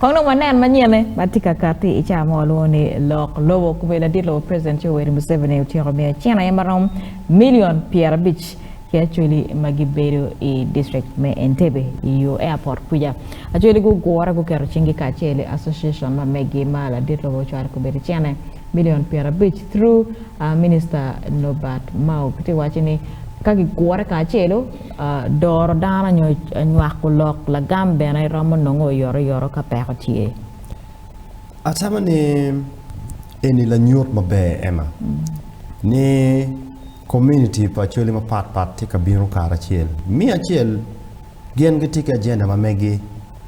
Kong dong wanen manyene ma tye ka katti i cawa ma walwongo ni lok lobo. Kobedi ladit lobo President Yoweri Museveni otyeko miyo cen aye ma romo milion pyerabic ki acholi ma gibedo i district me Entebbe i yo airport kwica. Acholi gugure guketo cinggi kacel i association ma meggi ma ladit lobo ocwalo kobedi cene milion pyerabic through Minister Nobert Mao. Kitye waco ni ka gigure kacelu, Doro dano nyo nywako lok lagam bene romo nongo oyotoyoto ka peko tye. Atamo ni eni lanyut maber, Emma, ni komuniti pa Acholi mapatpat tye ka bino karacel. Me acel, gin gitye ki ajenda ma megi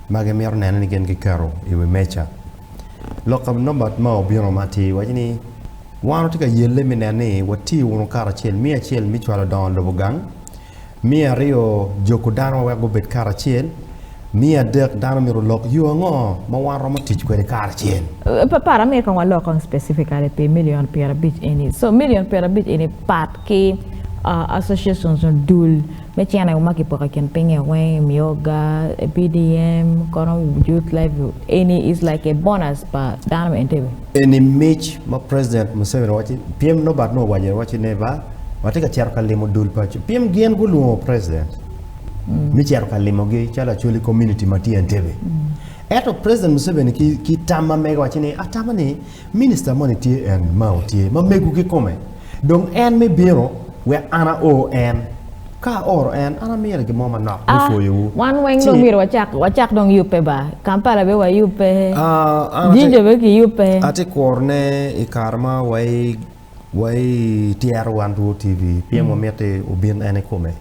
ma gimito neno ni gin giketo i wi meja. Lok ka Norbert ma obino ma atir waco ni, Wan watye ka yelle mi nen ni wati wunu karacel, miya acel mi cwalo dongo lobo gang, miya aryo joko dano wek gubed karacel, miya adek dano myero olok yo ango ma wan romo tic kwede karacel. Para mere kong walok on specifically pi million pyerabic eni. So million pyerabic eni pat ki associations nyo dul. Me cen aye wumaki poko i kin pingnge weng i Myoga, PDM, kono Youth Level eni is like a bonus pa dano me Entebbe. Eni mic ma President Museveni waci piem Norbert nongo owaco aye waci ne ba watye ka cito ka limo dul pa piem gin gulwongo President me cito ka limogi calo Acholi community ma tye Entebbe. Ento President Museveni ki tam ma mege waci ni atamo ni Minista moni tye en ma otye ma mego kikome, dong en me bino wek an ao en. Ka aoro en, an amire gin mo manok me pwoyowu. A, Wan weng dong myero wacak, wacak dong yubbe ba. Kampala be wayubbe, A, an ate, Jinja be kiyubbe. ate kworone i kare ma waye. Wa i tyero wan Rwoo TV pien wamiti obin en i kome,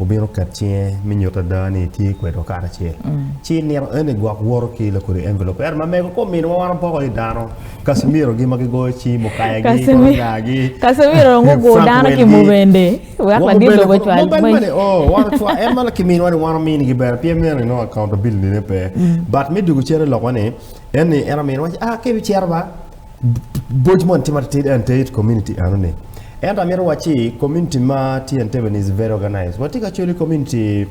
obin oket cinge mi nyuto ada ni itye kwede wa karacel. Ci i nino eni gwok woro ki lakodi envelop ento ma mego kom miniwa wan wapoko aye dano, Casimiro gi ma gigoyo ci, Mukaya gi, Koronya gi, Frank Wendy, wa mubene kong, mubene mene oo, wan ocwa, en ma ki miniwa ni wan wamini gi bene pien meno inongo accountability ne pe. But me dwogo cen i lok wa ni, en ni en ominiwa ci, ah ka ibicito ba. Boc moni tye ma titidi ento it community enoni. Ento amito wac ci community ma tye Entebbe ni is very organized. Watye ka cwelo i community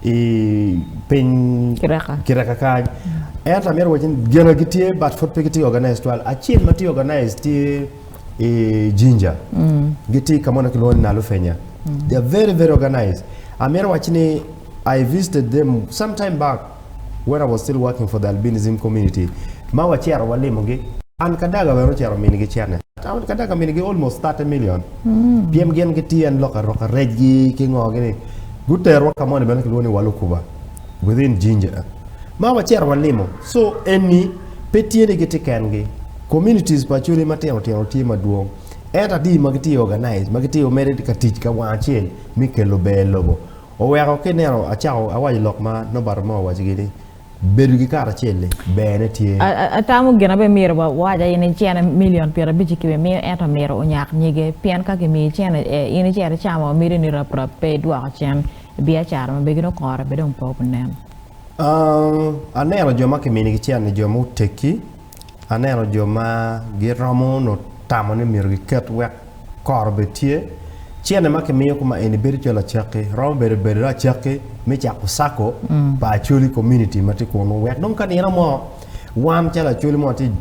i piny Kireka. Kireka kany. Ento amito wac ni gina gitye but pud pe gitye organized twal. Acel ma tye organized tye i Jinja. Gitye ka mo ma kilwongo ni Nalufenya. They are very very organized. Amito wac ni I visited them sometime back. When I was still working for the albinism community ma wacito walimogi, an Kadaga bene ocito minigi cene. An Kadaga aminigi almost thirty million pien gin gitye en lok aroka rejgi ki ngo gini. Guterwa ka moni bene kilwongo ni Walukuba within Jinja ma wacito walimo. So eni pe tye ni gitye kengi, communities pa Acholi matino tino tye madwong ento adi ma gitye organized ma gitye mere ka tic ka wang acel me kelo ber i lobo? Oweko ki ineno acako awaco lok ma Norbert Moore owacigi ni, Bedo ki kare acel-li berne tye. Atamo gin abe myero wawac aye ni cene milion pyerabic-ci kibi miyo ento omyero onyak nyige, pien ka kimiyi cene e, in icito icamo miti ni rap rap pe idwoko cen i biacara ma begini okore be dong pe obi nen. Aneno jo ma kiminigi cen-ni jo ma oteggi. Aneno jo ma giromo nyo tamo ni myero giket wek kor obed tye. Cene ma kimiyo kuma eni bedo calo acakki, romo bedo bedo dong acakki me cako Sacco pa Acholi community ma tye kunu wek dong ka nino mo wan calo Acholi mo tye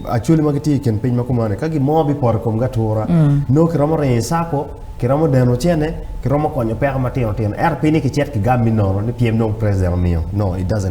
Acholi ma gitye i kin piny ma kumani ka gin mo bipoto i komgi atura nongo kiromo ringo i Sacco, kiromo deno cene, kiromo konyo peko matino tino ento pi ni kicit kigam me nono ni pyem dong President omiyo, no it doesn't work.